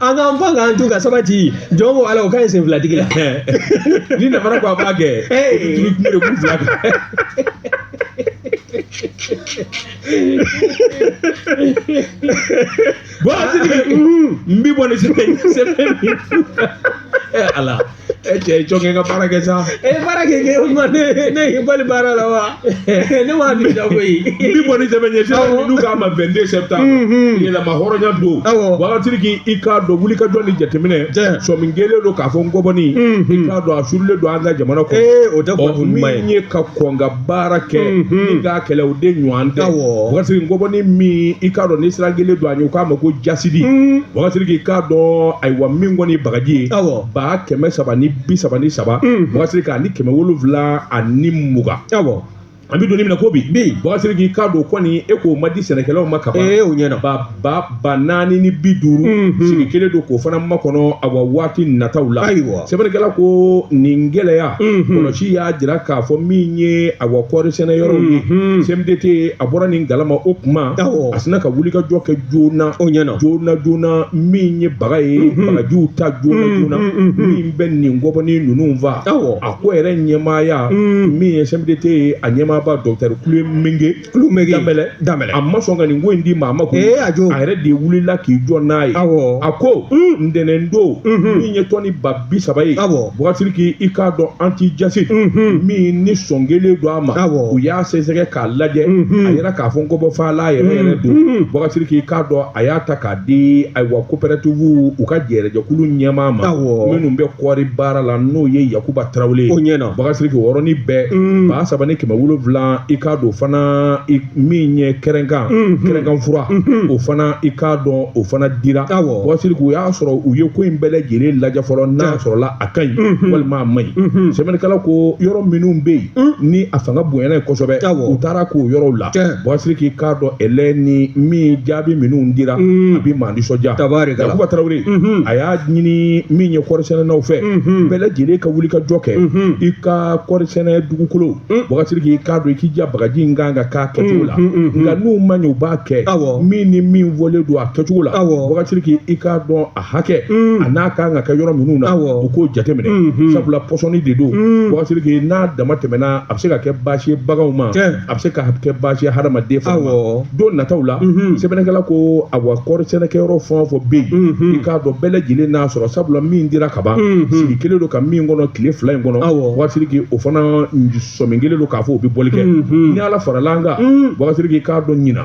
An k'an pan k'an tu ka sabati jɔn ko ala o ka ɲi sen filatigi la ni nafara ko a b'a kɛ tulu kun de kun fila kan bɔn a tigi n bi bɔ ni sɛbɛn sɛbɛn ala e cɛ ye jɔnkɛ ka baara kɛ sa e ye baara kɛ kɛ o ma ne ne y'i bali baara la wa ne m'a di ja koyi n bi bɔ ni sɛbɛn ye sisan Awɔ. n'u k'a ma 22 septembre Mhm. yɛrɛmahɔrɔnya don Awɔ. wagatiri k'i i k'a dɔn wuli ka jɔ ni jateminɛ Jɛ. sɔmin kelen don k'a fɔ ngɔbɔni Mhm. i k'a dɔn a suurulen don an ka jamana kɔnɔ ee o tɛ Ɔ, kunnafoni ɲuman ye min ye ka kɔn ka baara kɛ ni k'a kɛlɛ o de ɲɔgɔn tɛ Awɔ. wasiri ngɔbɔni min i k'a dɔn ni siran kelen don a ɲɛ u k'a ma ko jasidi wasiri k'i k'a dɔn ayiwa min kɔni ye bagaji ye Awɔ. ba kɛmɛ saba ni bi saba ni saba wasiri k'a ni kɛmɛ wolonwula ani mugan Awɔ. an bɛ don min na ko bi Bi. wasiri k'i k'a dɔn kɔni e k'o ma di sɛnɛkɛlaw ma kaban Ee, o ɲɛna. ba ba ba naani ni bi duuru sigi kelen don k'o fana makɔnɔ a wa waati nataw la ayiwa sɛbɛnnikɛla ko nin gɛlɛya kɔlɔsi y'a jira k'a fɔ min ye a wa kɔɔri sɛnɛ yɔrɔw ye CMDT a bɔra nin kalama o kuma a sinna ka wuli ka jɔ kɛ joona o ɲɛna joona joona min ye baga ye bagajiw ta joona joona min bɛ nin ngɔbɔni ninnu faa a ko yɛrɛ ɲɛmaaya min ye CMDT a ɲɛmaaba docteur Kulumege Kulumege Danbɛlɛ Danbɛlɛ a ma sɔn ka nin ko in di maa ma ko ee a jo a yɛrɛ de wulila k'i jɔ n'a ye awɔ a ko ntɛnɛn don min ye tɔni ba bi saba ye awɔ bɔgɔsiri k'i i k'a dɔn antijasidi min ni sɔn kelen don a ma awɔ u y'a sɛgɛsɛgɛ k'a lajɛ a yera k'a fɔ ngɔbɔ faala yɛrɛ yɛrɛ don bɔgɔsiri k'i k'a dɔn a y'a ta k'a di ayiwa coopératives u ka jɛrɛjɛkulu ɲɛmaa ma minnu bɛ kɔɔri baara la n'o ye yakuba tarawele ye o ɲɛna bakasiriki o yɔrɔnin bɛɛ mm. ba saba ni kɛmɛ wolonwula i k'a dɔn fana min ye kɛrɛnkan mm-hmm. kɛrɛnkan fura mm-hmm. o fana i k'a dɔn o fana dira bakasiriki o y'a sɔrɔ u ye ko in bɛɛ lajɛlen lajɛ fɔlɔ n'a sɔrɔla a ka ɲi mm-hmm. walima a man ɲi sɛbɛnnikɛla ko yɔrɔ minnu bɛ yen mm. ni a fanga bonyana ye kosɛbɛ u taara k'o yɔrɔw la Tiɲɛ. Wagasiriki i k'a dɔn ɛlɛ ni min jaabi minnu dira, a bɛ maa nisɔndiya. Tabaarikala. Yakuba Tarawele, a y'a ɲini min ye kɔɔrisɛnɛnaw fɛ, bɛɛ lajɛlen ka wuli ka jɔ kɛ, i ka kɔɔrisɛnɛ dugukolo, wagasiriki i k'a dɔn, i k'i jija bagaji in kan ka kɛ a kɛcogo la, nka n'u ma ɲɛ u b'a kɛ, Awɔ. min ni min fɔlen don a kɛcogo la, Awɔ. wagasiriki i k'a dɔn a hakɛ, a n'a kan ka kɛ yɔrɔ minnu na, Awɔ. u k'o jateminɛ, sabula pɔsɔni de don, wagasiriki n'a dama tɛmɛna, a bɛ se ka kɛ baasi ye baganw ma. Tiɲɛ. a bɛ se ka kɛ baasi ye hadamaden fana ma awɔ don nataw la Mhm. sɛbɛnnikɛla ko a wa kɔɔri sɛnɛkɛyɔrɔ fɛn o fɛn bɛ yen Mhm. i k'a dɔn bɛɛ lajɛlen n'a sɔrɔ sabula min dira ka ban Mhm. sigi kelen don ka min kɔnɔ tile fila in kɔnɔ Awɔ. wagasiriki o fana sɔmin kelen don k'a fɔ o bɛ bɔli kɛ Mhm. ni ala farala an kan Mhm. wagasiriki i k'a dɔn ɲina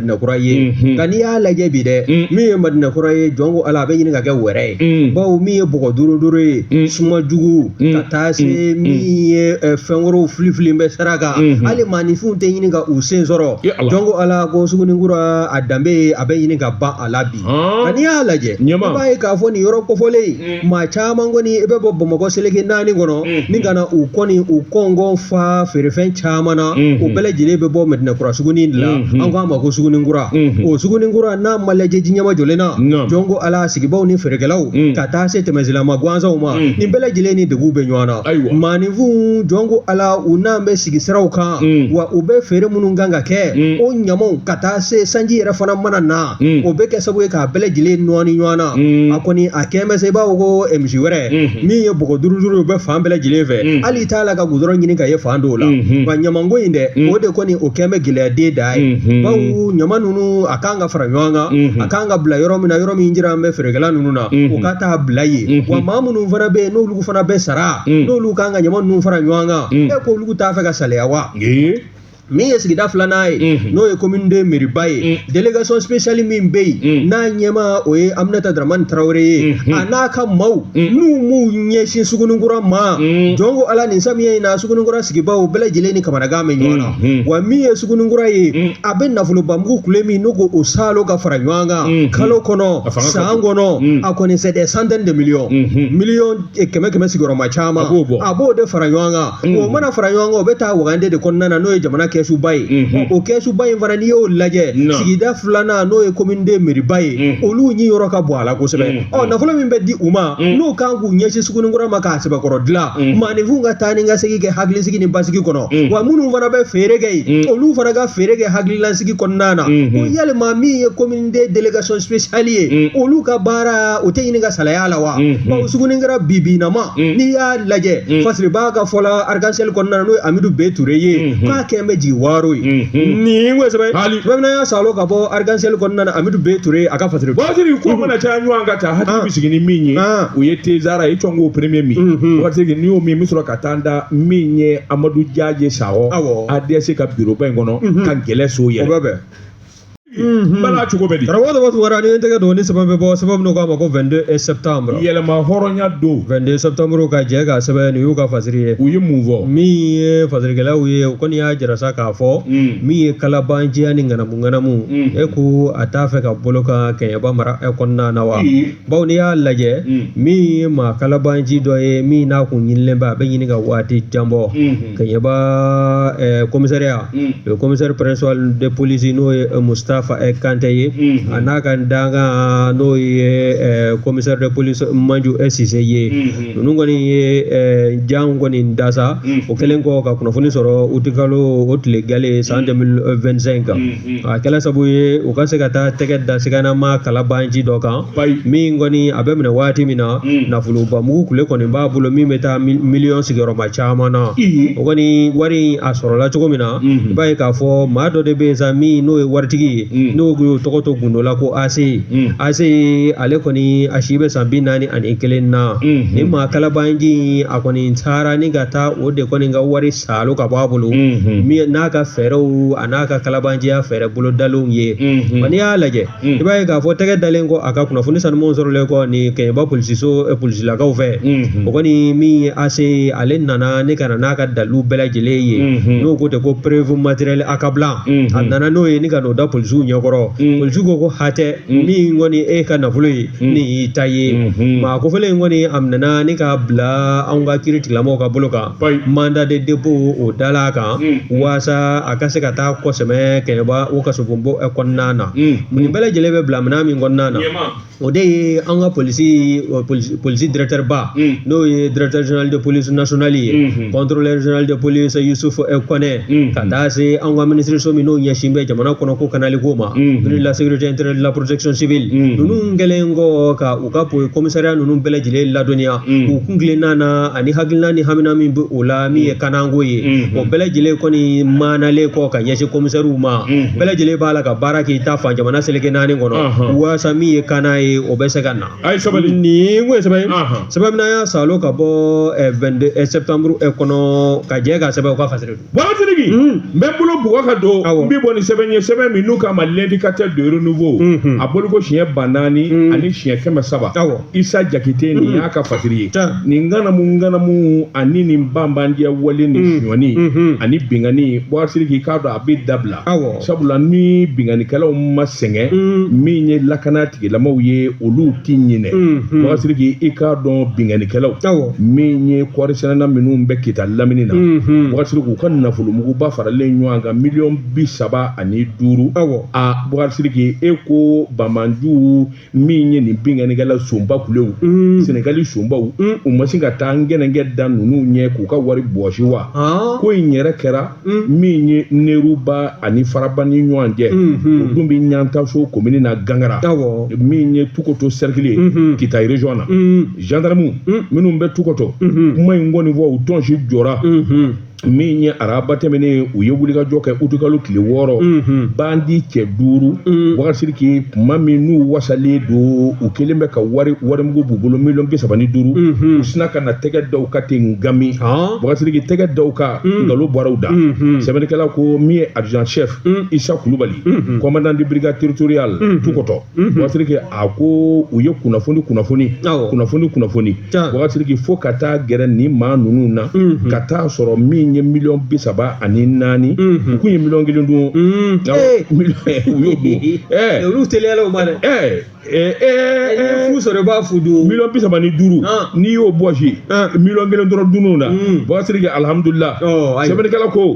Madinakura ye nka n'i y'a lajɛ bi dɛ min ye Madinakura ye jɔn ko Ala a bɛ ɲini ka kɛ wɛrɛ ye bawo min ye bɔgɔ duuru duuru ye suma jugu ka taa se min ye fɛn wɛrɛw fili fili bɛ sira kan hali maaninfinw tɛ ɲini ka u sen sɔrɔ jɔn ko Ala ko sugunikura a danbe a bɛ ɲini ka ban a la bi nka n'i y'a lajɛ i b'a ye k'a fɔ nin yɔrɔ kofɔlen in maa caman kɔni i bɛ bɔ bamakɔ seleke naani kɔnɔ ni ka na u kɔni u kɔngɔ fa feerefɛn caman na o bɛɛ lajɛlen bɛ bɔ mɛdinɛkura sugunin de la an k'a ma ko sugunikura o sugunikura n'a ma lajɛ ji ɲama jɔlen na jɔn ko ala sigibaw ni feerekɛlaw ka taa se tɛmɛsilama gansanw ma nin bɛɛ lajɛlen ni degun bɛ ɲɔgɔn na maaninfin jɔn ko ala u n'an bɛ sigi siraw kan wa u bɛ feere minnu kan ka kɛ o ɲamaw ka taa se sanji yɛrɛ fana mana na o bɛ kɛ sababu ye k'a bɛɛ lajɛlen nɔɔni ɲɔgɔn na a kɔni a kɛlen bɛ se i b'a fɔ ko misi wɛrɛ min ye bɔgɔ duuru duuru ye u bɛ fan bɛɛ lajɛlen fɛ hali i t'a la ka gudɔrɔn ɲini ka ye fan dɔw la wa ɲamanko in dɛ o de kɔni o kɛlen bɛ gɛlɛya den da ye bawo ɲama ninnu a kan ka fara ɲɔgɔn kan a kan ka bila yɔrɔ min na yɔrɔ min jiralen bɛ feerekɛla ninnu na u ka taa bila yen wa maa minnu fana bɛ yen n'olu fana bɛ sara n'olu kan ka ɲama ninnu fara ɲɔgɔn kan e k'olu t'a fɛ ka saliya wa min ye sigida filanan ye mhm. n'o ye commune deux mɛriba ye mhm. délégation spéciale min bɛ yen mhm. n'a ɲɛmaa ye aminata daramani tarawele ye a n'a ka maaw n'u m'u ɲɛsin sugunikura ma jɔn ko ala nin samiya in na sugunikura sigibaaw bɛɛ lajɛlen ni kamanagan bɛ ɲɔgɔn na wa min ye sugunikura ye a bɛ nafolobamugu kule min n'o ko o saalo ka fara ɲɔgɔn kan kalo kɔnɔ san kɔnɔ a kɔni c'est des centaines de millions miliyɔn kɛmɛ kɛmɛ sigiyɔrɔma caman a b'o de fara ɲɔgɔn kan o mana fara ɲɔgɔn kan o bɛ taa wagande de kɔnɔna na n'o ye jamana kɛsuba ye o kɛsuba in fana n'i y'o lajɛ sigida filanan n'o ye commune deux mɛriba ye olu niyɔrɔ ka bon a la kosɛbɛ ɔ nafolo min bɛ di u ma n'u kan k'u ɲɛsin sugunkura ma k'a sɛbɛkɔrɔ dilan maaninfin ka taa ni ka segin kɛ hakilisigi ni basigi kɔnɔ wa minnu fana bɛ feere kɛ yen olu fana ka feere kɛ hakililasigi kɔnɔna na yalima min ye n deux délégation spéciale ye olu ka baara o tɛ ɲini ka salaya la wa bawo sugunikura bibinama n'i y'a lajɛ fasiri b'a ka fɔ la arc-en-ciel kɔnɔna n'o ye Amidu B Ture ye k'a kɛn bɛ jigiwaaro ye nin kosɛbɛ bamanan y'a saalo ka bɔ arc-en-ciel kɔnɔna na Amidu B Ture a ka fasiri fasiri ko mana caya ɲɔgɔn ka taa hakili bɛ sigi ni min ye o ye tezara ye cɔngo premier min waritigi n'i y'o min bɛ sɔrɔ ka taa n da min ye Amadu Jaje Sahɔ ADS ka bureau ba in kɔnɔ ka gɛlɛ so yɛrɛ o bɛ bɛn Mhm. bala cogo bɛ di karamɔgɔ dɔ tun wara ni tɛgɛ don ni sɛbɛn bɛ bɔ sɛbɛn minnu k'a ma ko 22 septembre yɛrɛmahɔrɔnya don 22 septembre ka jɛ ka sɛbɛn nin y'u ka fasiri ye u ye mun fɔ min ye fasirikɛlaw ye u kɔni y'a jira sa k'a fɔ mm. min ye kalabanciya ni ŋanamu ŋanamu mm. e ko a t'a fɛ ka bolo ka Kɛɲɛba mara e kɔnɔna na wa bawo n'i y'a lajɛ min ye maa kalabanci dɔ ye min n'a kun ɲinilen bɛ a bɛ ɲini ka waati jan bɔ Kɛɲɛba commissariat o ye commissaire principal de police n'o ye Mustafa Kante ye a n'a ka dankan n'o ye commissaire de police Maju Sise ye ninnu kɔni ye jan kɔni da sa o kɛlen kɔ ka kunnafoni sɔrɔ utikalo o tile gale san 2025 kan a kɛla sabu ye u ka se ka taa tɛgɛ da sigana maa kalabanji dɔ kan min kɔni a bɛ minɛ waati min na nafolobamugu kule kɔni b'a bolo min bɛ taa miliyɔn sigiyɔrɔma caman na o kɔni wari a sɔrɔla cogo min na i b'a ye k'a fɔ maa dɔ de bɛ yen sa min n'o ye waritigi ye n'o tun y'o tɔgɔ to gundo la ko AC AC ale kɔni a si bɛ san bi naani ani kelen na ni maa kalabanji a kɔni taara ni ka taa o de kɔni ka wari Salo ka bɔ a bolo min n'a ka fɛɛrɛw an'a ka kalabanjiya fɛɛrɛ bolo dalenw ye wa n'i y'a lajɛ i b'a ye k'a fɔ tɛgɛ dalen kɔ a ka kunnafoni sanumanw sɔrɔlen kɔ nin kɛɲɛba polisiso polisilakaw fɛ o kɔni min ye AC ale nana ne ka n'a ka dalilu bɛɛ lajɛlen ye n'o ko tɛ ko preuve matérielle accablante a nana n'o ye ne ka n'o da polisiw ɲɛkɔrɔ polisiw ko ko hatɛ min kɔni e ka nafolo ye ni y'i ta ye maa kofɔlen in kɔni a minɛna ne ka bila an ka kiiritigɛlamɔgɔw ka bolo kan mandat de dépôt o dala kan walasa a ka se ka taa kɔ sɛmɛ kɛɲɛba o kasobon kɔnɔna na nin bɛɛ lajɛlen bɛ bila minɛn min kɔnɔna na o de ye an ka polisi polisi directeur ba n'o ye directeur général de police nationale ye contrôleur général de police Yusufu Kɔnɛ ka taa se an ka minisiriso min n'o ɲɛsin bɛ jamana kɔnɔ ko kanali ko ma ministère de la sécurité intérieure de la protection civile ninnu kɛlen kɔ ka u ka po kɔmisariya ninnu bɛɛ lajɛlen ladɔnniya u kuntilenna na ani hakilina ni hamina min bɛ o la min ye kanako ye o bɛɛ lajɛlen kɔni maanalen kɔ ka ɲɛsin kɔmisariw ma bɛɛ lajɛlen b'a la ka baara k'i ta fan jamana seleke naani kɔnɔ walasa min ye kana ye o bɛ se ka na nin o ye sɛbɛn ye sɛbɛn min an y'a salo ka bɔ vingt-deux septembre kɔnɔ ka jɛ ka sɛbɛn u ka fa Magasiriki n bɛ bolo bugɔ ka don n bɛ bɔ ni sɛbɛn ye sɛbɛn min n'u k'a ma l'Indicateur du Renouveau a bɔliko siɲɛ ba naani ani siɲɛ kɛmɛ saba isa jakite nin y'a ka fasiri ye nin ŋanamuŋanamu ani ni banbandiya wale ni sonyani ani binkanni magasiriki k'a dɔn a bɛ dabila sabula ni binkannikɛlaw ma sɛgɛn mm. min ye lakana tigilamaw ye olu tɛ ɲinɛ mm-hmm. magasiriki i k'a dɔn binkannikɛlaw min ye kɔɔrisɛnɛna minnu bɛ kita lamini na mm-hmm. magasiriki u ka nafolomuguba faralen ɲɔgɔn kan miliyɔn bi saba ani duuru a magasiriki e ko bamanjuw min ye nin binkannikɛla sonba kulew mm. sɛnɛgali sonbaw mm. u ma sin ka taa ngɛnɛngɛ da ninnu ɲɛ k'u ka wari bɔsi wa ah. ko in yɛrɛ kɛra mm. min ye neruba ani faraba ni ɲɔgɔn cɛ mm-hmm. o dun bɛ ɲantaso komini na gangara min ye tukoto sɛrikili ye mm-hmm. kita région na gendarmew minnu bɛ tukoto mm-hmm. kuma in kɔni fɔ u tɔnsi jɔra min ye araba tɛmɛnen u ye wulikajɔ kɛ utukalo tile wɔɔrɔ mhm. bandi cɛ duuru mhm. Bakari Sidiki kuma min n'u wasalen don u kelen bɛ ka warimugu b'u bolo miliyɔn bi saba ni duuru mhm. u sinna ka na tɛgɛ da u kan ten gami Bakari Sidiki tɛgɛ da u kan Ngalo bɔraw da sɛbɛnnikɛla ko min ye adjudant chef Isa Kulubali commandant de brigade territoriale Tukɔtɔ Bakari Sidiki a ko u ye kunnafoni kunnafoni kunnafoni kunnafoni Bakari Sidiki fo ka taa gɛrɛ ni maa ninnu na ka taa sɔrɔ min ye miliyɔn bi saba ani naani u kun ye miliyɔn kelen dun u y'o dun olu tɛ sɔrɔ b'a fo dun miliyɔn bi saba ni duuru n'i y'o bɔsi miliyɔn kelen dɔrɔn dunna Bakari Sidiki alihamudulilahi sɛbɛnnikɛla ko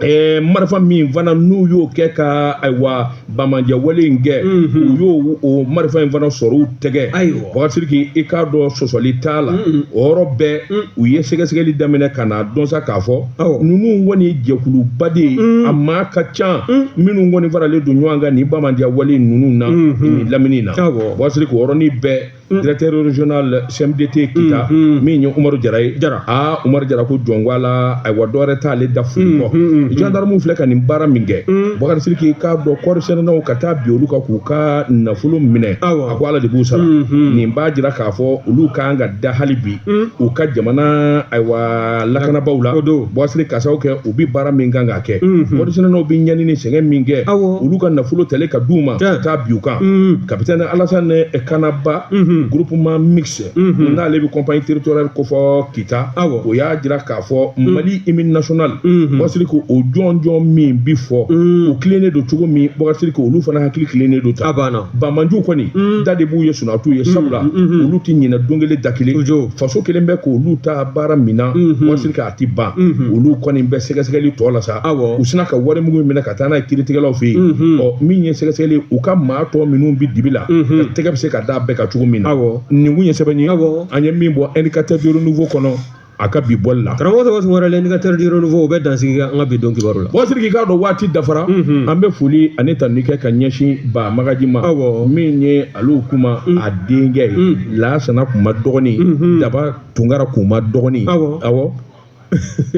ɛɛ marifa min fana n'u y'o kɛ ka ayiwa banbaanciyawale in kɛ u y'o o marifa in fana sɔrɔ u tɛgɛ Ayiwa. Bakari Sidiki i k'a dɔn sɔsɔli t'a la o yɔrɔ bɛɛ u ye sɛgɛsɛgɛli daminɛ ka na dɔn sa k'a fɔ Awɔ. ninnu kɔni jɛkuluba de ye a maa ka ca minnu kɔni faralen don ɲɔgɔn kan ni banbaanciyawale ninnu na nin lamini na Awɔ. Bakari Sidiki o yɔrɔnin bɛɛ directeur régional CMDT Kita min ye Umaru Jara ye aa Umaru Jara ko jɔn ko ala ayiwa dɔ wɛrɛ t'ale da foli kɔ gendarmew filɛ ka nin baara min kɛ Bakari Sidiki i k'a dɔn kɔɔrisɛnɛnaw ka taa bin olu kan k'u ka nafolo minɛ a ko ala de b'u sara nin b'a jira k'a fɔ olu kan ka da hali bi u ka jamana ayiwa lakanabaaw la Bakari Sidiki ka sababu kɛ u bɛ baara min kan ka kɛ kɔɔrisɛnɛnaw bɛ ɲani ni sɛgɛn min kɛ olu ka nafolo tali ka d'u ma ka taa bin u kan capitaine Alassane Kanaba groupement mixte n'ale bɛ compagnie territoriale kofɔ Kita o y'a jira k'a fɔ Mali hymne national Bakari Sidiki ko o jɔnjɔn min bɛ fɔ u tilennen don cogo min Bakari Sidiki ko olu fana hakili tilennen don ta bamanju kɔni da de b'u ye sunjatatu ye sabula olu tɛ ɲinɛ don kelen da kelen faso kelen bɛ k' olu ta baara min na Bakari Sidiki tɛ ban olu kɔni bɛ sɛgɛsɛgɛli tɔ la sa u sinna ka warimugu min minɛ ka taa n'a ye kiiritigɛlaw fɛ yen ɔ min ye sɛgɛsɛgɛli u ka maa tɔ minnu bɛ dibi la tɛgɛ bɛ se ka da bɛɛ kan cogo min na nin kun ye sɛbɛn ye an ye min bɔ Indicateur du Renouveau kɔnɔ a ka bi bɔli la karamɔgɔ tɔgɔ wɛrɛ l'Indicateur du Renouveau o bɛ dan sigi an ka bi don kibaru la Bakari Sidiki i k'a dɔn waati dafara an bɛ foli ani tanuni kɛ ka ɲɛsin Ba Magaji ma min ye Alu Kuma a denkɛ ye Lasana Kuma dɔgɔnin Daba Tunkara Kuma dɔgɔnin aw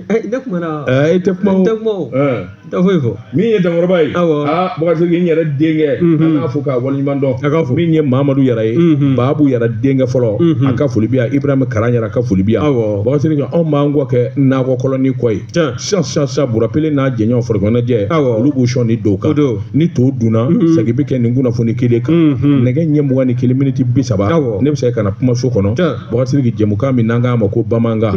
ne kumana e tɛ kuma o tɛ foyi fɔ min ye Dankɔrɔba ye aa Bakari Sidiki n yɛrɛ denkɛ an k'a fo k'a waleɲumandɔn a ka fɔ min ye Mamadu Yara ye Babu Yara denkɛ fɔlɔ a ka foli bɛ yan Ibrahima Karan Yara ka foli bɛ yan Bakari Sidiki anw b'an kɔ kɛ nakɔ kɔlɔnnin kɔ ye sisan Bura Pele n'a jɛɲɔgɔn farikoloɲɛnajɛ olu b'u sɔn ni don ka don ni to dunna segin bɛ kɛ nin kunnafoni kelen kan nɛgɛ ɲɛ mugan ni kelen miniti bi saba ne bɛ se ka na kumaso kɔnɔ Bakarijansi jɛmukan min n'an k'a ma ko bamanankan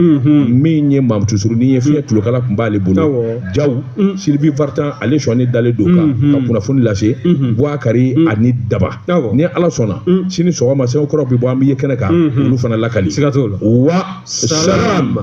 min ye Matu surunnin ye fiɲɛ tulokala tun b'ale bolo Jaw Sylvie Vartan ale sɔnnen dalen don k'an ka kunnafoni lase Bubakari ani daba ni ala sɔnna sini sɔgɔma sɛbɛn kura bɛ bɔ an bɛ ye kɛnɛ kan olu fana lakali siga t'o la wa sa